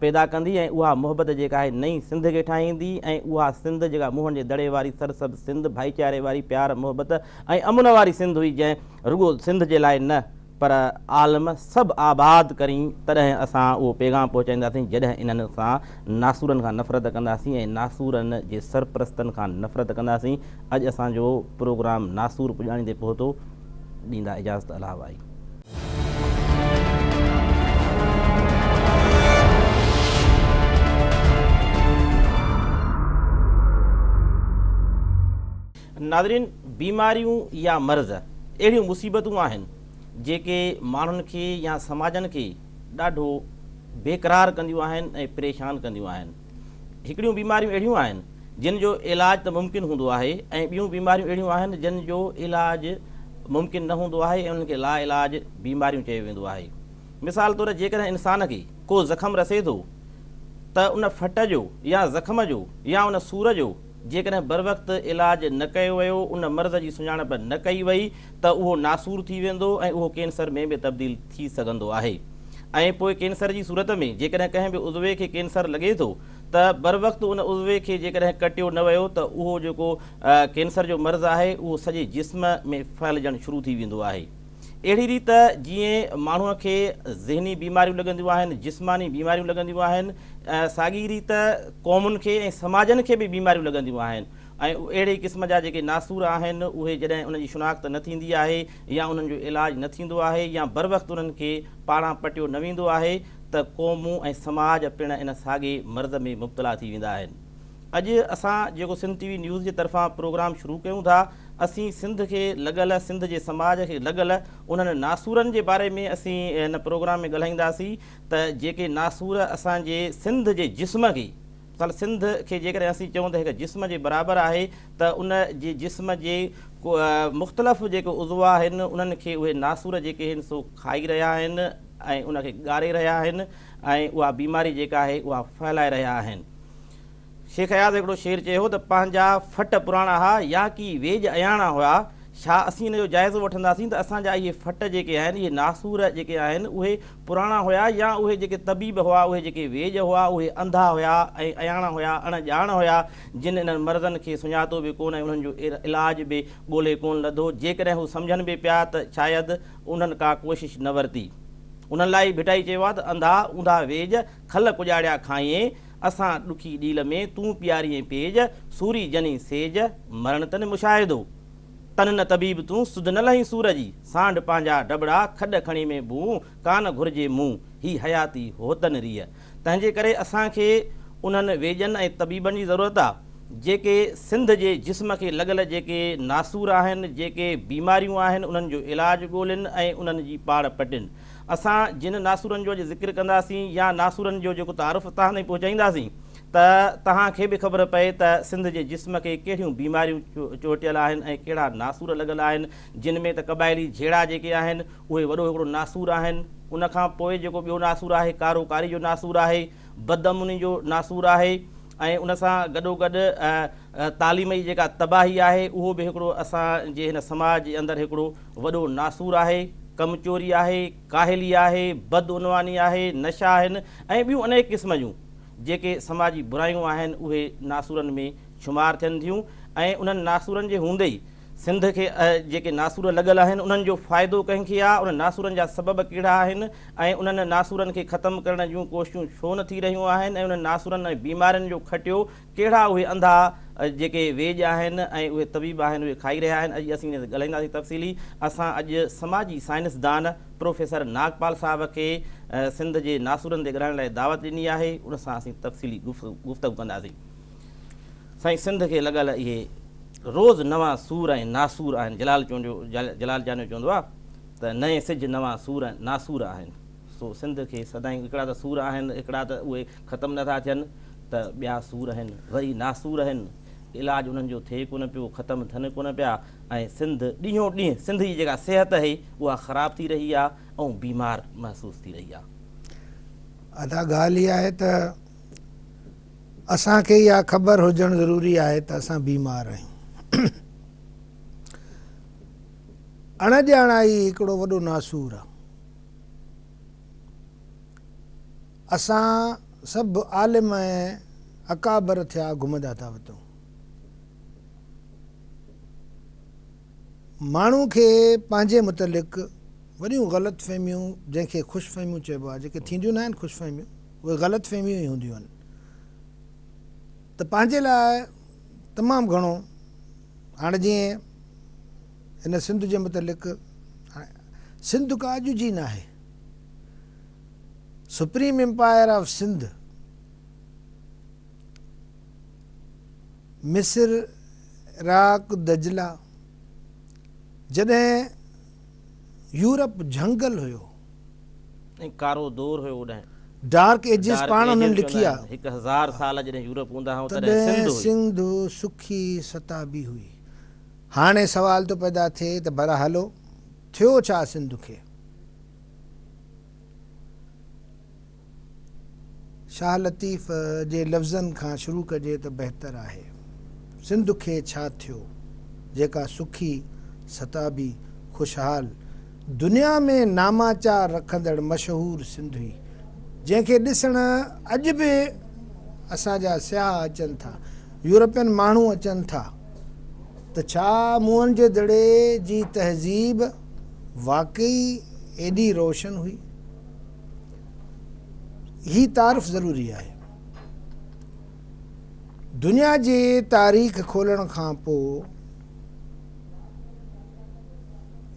A: پيدا ڪندي ۽ اها محبت جيڪا آهي نئين سنڌ کي ٺاهيندي ۽ اها سنڌ جيڪا موهن جي دڙي واري سرسبز سنڌ، ڀائيچاري واري، پيار محبت ۽ امن واري سنڌ هئي جنهن رڳو سنڌ جي لاء نه پر عالم سڀ آباد ڪرين تڏهن اسان اهو پيغام پهچائينداسين جڏهن انهن سان ناسورن کان نفرت ڪنداسين ۽ ناسورن جي سرپرستن کان نفرت ڪنداسين اڄ اسان جو پروگرام ناسور پڄاڻيندي پهتو ڏيندا اجازت الهه وائي. ناظرين بيماريون يا مرض اهڙيون مصيبتون آهن جيڪي ماڻهن کي يا سماجن کي ڏاڍو بيقرار ڪنديون آهن ۽ پريشان ڪنديون آهن. هڪڙيون بيماريون اهڙيون آهن جن جو علاج ته ممڪن هوندو آهي ۽ ٻيون بيماريون اهڙيون آهن جن جو علاج ممڪن نه هوندو آهي ۽ انهن کي لاعلاج بيماريون چيو ويندو آهي مثال طور جيڪڏهن انسان کي ڪو زخم رسي ٿو ته ان ڦٽ جو يا زخم جو يا ان سور جو جيڪڏهن بروقت علاج نه ڪيو ويو، ان مرض جي سڃاڻپ نه ڪئي وئي ته اهو ناسور ٿي ويندو ۽ اهو ڪينسر ۾ به تبديل ٿي سگهندو آهي ۽ پوء ڪينسر جي صورت ۾ جيڪڏهن ڪنهن به عضوي کي ڪينسر لڳي ٿو ته بروقت ان عضوي کي جيڪڏهن ڪٽيو نه ويو ته اهو جيڪو ڪينسر جو مرض آهي اهو سڄي جسم ۾ ڦهلجڻ شروع ٿي ويندو آهي. اهڙي ريت جيئن ماڻهوء کي ذهني بيماريون لڳنديون آهن، جسماني بيماريون لڳنديون آهن، ساڳي ريت قومن کي ۽ سماجن کي به بيماريون لڳنديون آهن ۽ اهڙي قسم جا جيڪي ناسور آهن اهي جڏهن انهن جي شناخت نه ٿيندي آهي يا انهن جو علاج نه ٿيندو آهي يا بروقت انهن کي پاڙان پٽيو نه ويندو آهي ته قومون ۽ سماج پڻ ان ساڳي مرض ۾ مبتلا ٿي ويندا آهن. اڄ اسان جيڪو سنڌ ٽي وي نيوز جي طرفان پروگرام شروع ڪيون ٿا اسين سنڌ کي لڳل سنڌ جي سماج کي لڳل انهن ناسورن جي باري ۾ اسين هن پروگرام ۾ ڳالهائينداسين ته جيڪي ناسور اسان جي سنڌ جي جسم کي مثال سنڌ کي جيڪڏهن اسين چئون ته هڪ جسم جي برابر آهي ته ان جي جسم جي مختلف جيڪي عضوا آهن انهن کي اهي ناسور جيڪي آهن سو کائي رهيا آهن ۽ ان کي ڳاري رهيا آهن ۽ اها بيماري جيڪا آهي اها ڦهلائي رهيا آهن شيخ اياز هڪڙو شعر چئي هو ته پنهنجا ڦٽ پراڻا ها يا ڪي ويڄ اياڻا هيا، ڇا اسين ان جو جائزو وٺنداسين ته اسان جا اهي ڦٽ جيڪي آهن، اهي ناسور جيڪي آهن اهي پراڻا هيا يا اهي جيڪي طبيب هئا اهي جيڪي ويڄ هئا اهي انڌا هيا ۽ اياڻا هيا اڻ ڄاڻ هيا جن انهن مرضن کي سڃاتو به ڪونه ۽ انهن جو علاج به ڳولي ڪونه لڌو جيڪڏهن هو سمجهن به پيا ته شايد انهن ڪا ڪوشش نه ورتي انهن لاء ئي ڀٽائي چيو آهي ته انڌا اوندها ويڄ کل ڪڄاڙيا کانئين اسان ڏکي ڏيل ۾، تون پياريئين پيج، سوري جنين سيج، مرڻ تن مشاهدو. تن نه طبيب تون، سڌ نه لهين سور جي، سانڍ پنهنجا ڊٻڙا، کڏ کڻي ۾ بون، ڪانه گهرجي مون، هي حياتي هوتن ريء. تنهنجي ڪري اسان کي انهن ويڄن ۽ طبيبن جي ضرورت آ، جيڪي سنڌ جي جسم کي لڳل جيڪي ناسور آهن، جيڪي بيماريون آهن، انهن جو علاج ڳولين ۽ انهن جي پاڙ پٽين. اسان جن ناسورن جو اڄ ذڪر ڪنداسين يا ناسورن جو جيڪو تعارف توهان تائين پهچائينداسين ته توهان کي به خبر پئي ته سنڌ جي جسم کي ڪهڙيون بيماريون چهٽيل آهن ۽ ڪهڙا ناسور لڳل آهن جن ۾ ته قبائلي جهيڙا جيڪي آهن اهي وڏو هڪڙو ناسور آهن ان کان پوء جيڪو ٻيو ناسور آهي ڪارو ڪاري جو ناسور آهي بدامني جو ناسور آهي ۽ ان سان گڏو گڏ تعليم جي جيڪا تباهي آهي اهو به هڪڙو اسان جي هن سماج جي اندر هڪڙو وڏو ناسور آهي، ڪم چوري آهي، ڪاهلي آهي، بدعنواني آهي، نشا آهن ۽ ٻيون انيڪ قسم جون جيڪي سماجي برايون آهن اهي ناسورن ۾ شمار ٿين ٿيون ۽ انهن ناسورن جي هوندي ئي سنڌ کي جيڪي ناسور لڳل آهن انهن جو فائدو ڪنهن کي آ، انهن ناسورن جا سبب ڪهڙا آهن ۽ انهن ناسورن کي ختم ڪرڻ جون ڪوششون ڇو نه ٿي رهيون آهن ۽ انهن ناسورن ۽ بيمارين جو کٽيو ڪهڙا اهي انڌا جيڪي ويڄ آهن ۽ اهي طبيب آهن اهي کائي رهيا آهن اڄ اسين انهي تي ڳالهائينداسين تفصيلي اسان اڄ سماجي سائنس دان پروفيسر ناگپال صاحب کي سنڌ جي ناسورن تي ڳالهائڻ لاء دعوت ڏني آهي ان سان اسين تفصيلي گفتگو ڪنداسين سائين سنڌ کي لڳل اهي روز نوان سور ۽ ناسور آهن جلال چونڊيو جلال چانڊيو چوندو آهي ته نئين سج نوان سور ۽ ناسور آهن. سو سنڌ کي سدائين هڪڙا ته سور آهن، هڪڙا ته اهي ختم نه ٿا ٿين ته ٻيا سور هن وري ناسور هن، علاج انهن جو ٿئي ڪونه پيو، ختم ٿين ڪونه پيا ۽ سنڌ ڏينهون ڏينهن سنڌ جي جيڪا صحت اهي اها خراب ٿي رهي آهي ۽ بيمار محسوس ٿي رهي آهي.
B: ادا ڳالهه اها آهي ته اسان کي اها خبر هجڻ ضروري آهي ته اسان بيمار آهيون. اڻڄاڻائي هڪڙو وڏو ناسور آهي. اسان سڀ عالم ۽ اڪابر ٿيا گهمندا ٿا وتون. ماڻهو کي پنهنجي متعلق وڏيون غلط فهميون جنهن کي خوش فهميون چئبو آهي جيڪي ٿينديون ناهن خوش فهميون اهي غلط فهميون ئي هونديون آهن ته پنهنجي لاء تمام گهڻو هاڻ جيئن هن سنڌ جي متعلق سنڌ ڪا اڄ جي ناهي. سپريم امپائر آف سنڌ مصر عراق دجله جڏهن يورپ جهنگل هيو. ۽
A: ڪارو دور هيو اوڏانهن. ڊارڪ ايجز
B: پاڻ هنن لکي آ. هڪ هزار سال جڏهن
A: يورپ هوندا هئا تڏهن سنڌ هئي. سنڌ
B: سکي ستابي هئي. هاڻي سوال ٿو پيدا ٿئي ته ڀلا هلو ٿيو ڇا سنڌ کي؟ شاهه لطيف جي لفظن کان شروع ڪجي ته بهتر آهي. سنڌ کي ڇا ٿيو، جيڪا سکي، ستابي، خوشحال، دنيا ۾ ناماچار رکندڙ مشهور سنڌ هئي، جنهن کي ڏسڻ اڄ به اسان جا سياح اچن ٿا، يورپين ماڻهو اچن ٿا ته ڇا موهن جي دڙي جي تهذيب واقعي ايڏي روشن هئي؟ هي تعارف ضروري آهي. دنيا جي تاريخ کولڻ کان پوء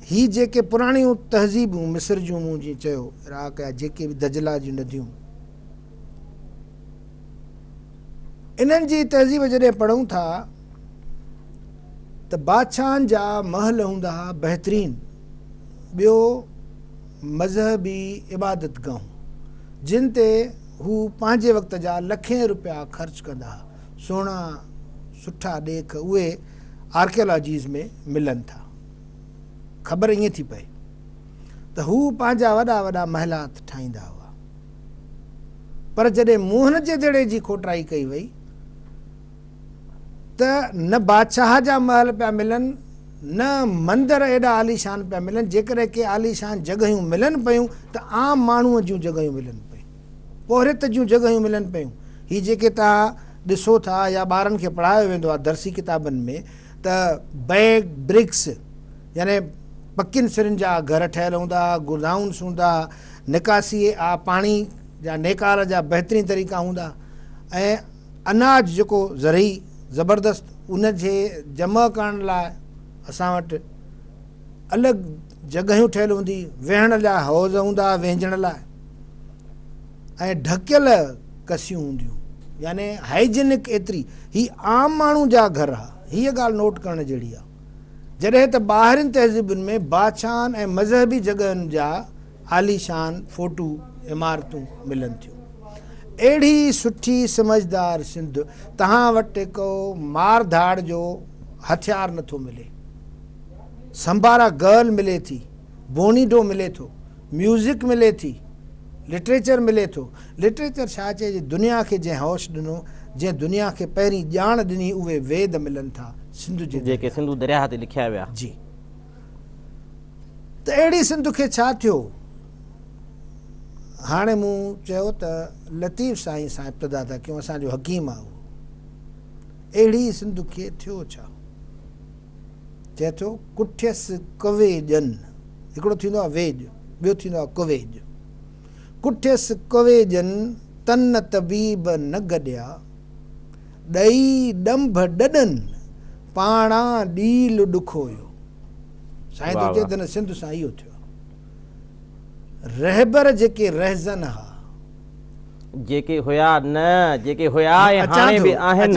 B: هي جيڪي پراڻيون تهذيبون مصر جون مون جي چيو عراق يا جيڪي به دجلا جون نديون انهن جي تهذيب جڏهن پڙهون ٿا ته بادشاهن جا محل هوندا ها بهترين ٻيو مذهبي عبادت گاهون جن تي هو پنهنجي وقت جا لکين روپيا خرچ ڪندا ها، سهڻا سٺا ڏيک اهي آرڪيالاجيز ۾ ملن ٿا. خبر ائين ٿي پئي ته هو پنهنجا وڏا وڏا محلات ٺاهيندا هئا. پر جڏهن موهن جي دڙي جي کوٽائي ڪئي وئي ته نه بادشاهه جا محل پيا ملن، نه مندر ايڏا عاليشان پيا ملن، جيڪڏهن ڪي عاليشان جڳهيون ملن پيون ته عام ماڻهوء جون جڳهيون ملن پيون، پورهيت جون جڳهيون ملن پيون. هي جيڪي توهان ڏسو ٿا يا ٻارن کي پڙهايو ويندو آهي درسي ڪتابن ۾ ته بئگ برڪس يعني پڪين سرن جا گهر ٺهيل هوندا ها، گودائونس هوندا ها، نڪاسيء آ پاڻي جا نيڪال جا بهترين طريقا هوندا ها ۽ اناج جيڪو زرعي زبردست ان جي جمع ڪرڻ لاء اسان وٽ الڳ جڳهيون ٺهيل هوندي ويهڻ جا حوض هوندا وهنجڻ لاء ۽ ڍڪيل ڪسيون هونديون يعني هائيجينڪ ايتري هي عام ماڻهو جا گهر ها هيء ڳالهه نوٽ ڪرڻ جهڙي آهي جڏهن ته ٻاهرين تهذيبن ۾ باڇان ۽ مذهبي جڳهين جا عاليشان ڦوٽو عمارتون ملن ٿيون. اهڙي سٺي سمجهدار سنڌ توهان وٽ ڪو مار ڌاڙ جو هٿيار نه ٿو ملي. سمبارا گرل ملي ٿي، بونيڊو ملي ٿو، ميوزڪ ملي ٿي، لٽريچر ملي ٿو. لٽريچر ڇا چئجي دنيا کي جنهن هوش ڏنو، جنهن دنيا کي پهرين ڄاڻ ڏني اهي ويد ملن ٿا سنڌو جي درياهه. جيڪي سنڌو درياهه تي
A: لکيا ويا. جي.
B: ته اهڙي سنڌ کي ڇا ٿيو؟ هاڻي مون چيو ته لطيف سائين سان ابتدا ٿا ڪيون، اسان جو حڪيم آهي اهو. اهڙي سنڌ کي ٿيو ڇا؟ چئي ٿو، ڪٺيس ڪويڄن، هڪڙو ٿيندو آهي ويڄ، ٻيو ٿيندو آهي ڪويڄ. ڪٺيس ڪويڄن تن طبيب نه گڏيا. ڏئي ڏنڀ ڏڏن پاڻا ڏيل ڏکويو. سائين ٿو چئي ته هن سنڌ سان اهو ٿيو آهي. رهبر جيڪي رهزن ها.
A: جيڪي هيا نه جيڪي هيا ۽ هاڻي به آهن.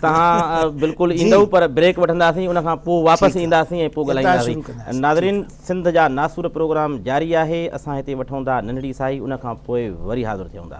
A: تهان بلڪل ايندئو پر بريڪ وٺنداسين ان کان پوء واپس اينداسين ۽ پوء ڳالهائينداسين. ناظرين! سنڌ جا ناسور پروگرام جاري آهي اسان هتي وٺون ٿا ننڍڙي ساهي ان کان پوء وري حاضر ٿيون ٿا.